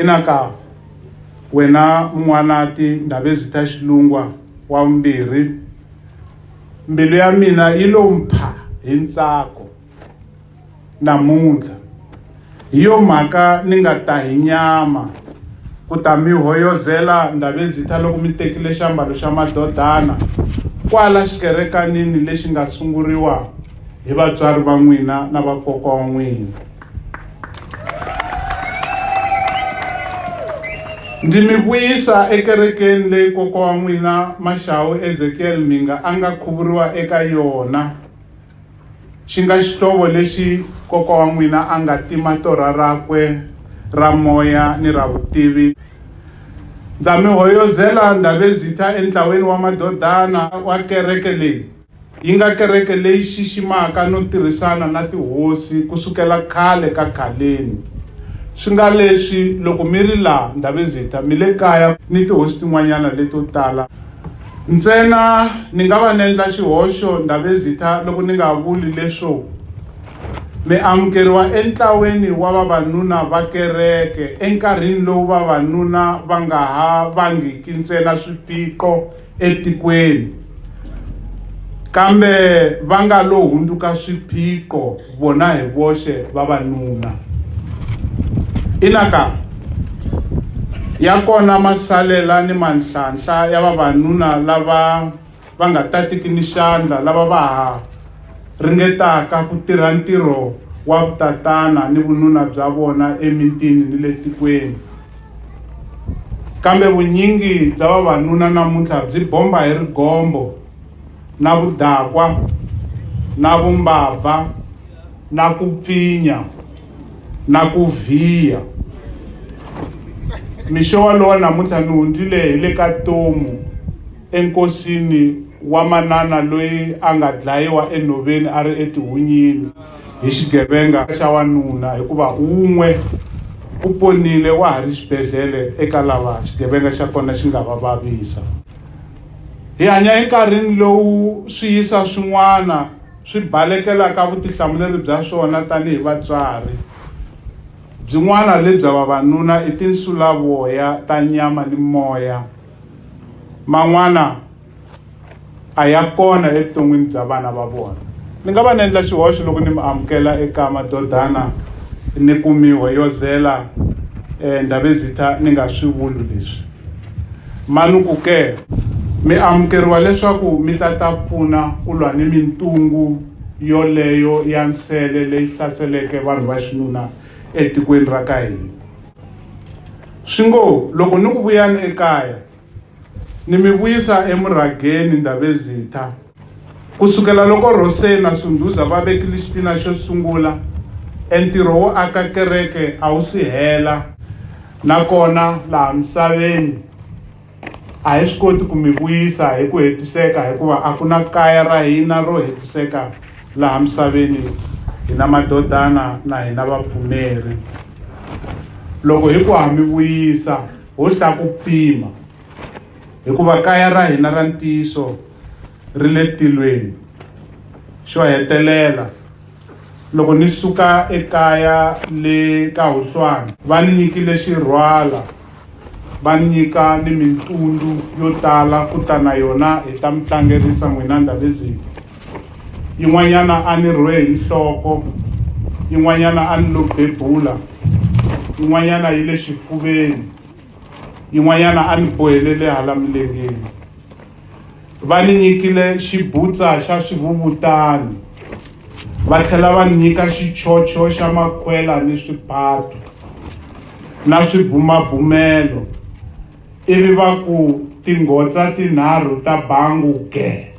inaka wena mun'wanati ndhavezita ta xilungwa wa vumbirhi mbilu ya mina yi lo mpha hi ntsako namuntlha. Hi yo mhaka ni nga ta hi nyama ku ta mi hoyozela Ndabezitha loko mi tekile xiambalo xa madodana kwala xikerekanini lexi nga sunguriwa hi vatswari va n'wina na vakokwa wa n'wina. Ndzi mi vuyisa ekerekeni leyi kokwa wa n'wina Maxawu Ezekiel Mhinga a nga khuvuriwa eka yona. Xi nga xihlovo lexi kokwa wa n'wina a nga tima torha rakwe ra moya ni ra vutivi. Ndza mi hoyozela Ndabezitha entlaweni wa madodana wa kereke leyi. Yi nga kereke leyi xiximaka no tirhisana na tihosi ku sukela khale ka khaleni. Swi nga leswi loko mi ri laha Ndabezitha mi le kaya ni tihosi tin'wanyana leto tala. Ntsena ni nga va ni endla xihoxo Ndabezitha loko ni nga vuli leswo mi amukeriwa entlaweni wa vavanuna va kereke enkarhini lowu vavanuna va nga ha vangiki ntsena swiphiqo etikweni kambe va nga lo hundzuka swiphiqo vona hi voxe vavanuna. Ina ka, ya kona masalela ni manhlanhla ya vavanuna lava va nga tatiki ni xandla lava va ha ringetaka ku tirha ntirho wa vutatana ni vununa bya vona emitini ni le tikweni. Kambe vunyingi bya vavanuna namuntlha byi bomba hi rigombo. na vudakwa na vumbabva na ku pfinya na ku vhiya mixo walowo namuntlha ni hundzile hi le ka tomu enkosini wa manana loyi a nga dlayiwa enhoveni a ri etihunyini hi xigevenga xa wanuna hikuva wun'we u ponile wa ha ri xibedhlele eka lava xigevenga xa kona xi nga va vavisa Hi hanya enkarhini lowu swiyisa swin'wana swi balekelaka vutihlamuleri bya swona tanihi vatswari. Byin'wana lebya vavanuna i tinsulavoya ta nyama ni moya. Man'wana a ya kona evuton'wini bya vana va vona. Ni nga va ni endla xihoxo loko ni mi amukela eka madodana ni ku mi hoyozela eh, Ndabezitha ni nga swi vuli leswi. Manuku ke, mi amukeriwa leswaku mi ta ta pfuna ku lwa ni mintungu yoleyo ya nsele leyi hlaseleke vanhu va xinuna etikweni ra ka hina. Swi ngo, loko ni ku vuyani ekaya, ni mi vuyisa emurhageni, Ndabezitha. Ku sukela loko Rose na Sunduza va vekile xitina xo sungula, entirho wo aka kereke a wu si hela. Nakona laha misaveni a hi swi koti ku mi vuyisa hi ku hetiseka hikuva a ku na kaya ra hina ro hetiseka laha misaveni, hina madodana na hina vapfumeri. Loko hi ku ha mi vuyisa, ho hlakupima hikuva kaya ra hina ra ntiyiso ri le tilweni. Xo hetelela, loko ni suka ekaya le ka Huhlwana, va ni nyikile xirhwala va ni nyika ni mintundzu yo tala ku ta na yona hi ta mi tlangerisa n'wina Ndabezitha. Yin'wanyana a ni rhwe hi nhloko, yin'wanyana a ni lo bebula, yin'wanyana yi le xifuveni, yin'wanyana a ni bohelele hala milengeni. Va ni nyikile xibutsa xa swivuvutani, va tlhela va ni nyika xichocho xa makhwela ni swipatu na swibumabumelo, ivi va ku, Tingotsa tinharhu ta bangu ge!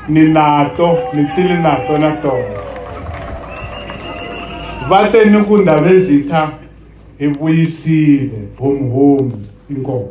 Ni nato, ni tile nato na tona. Va te ni ku Ndhavezitha, hi vuyisile, homuhomu. Inkomu.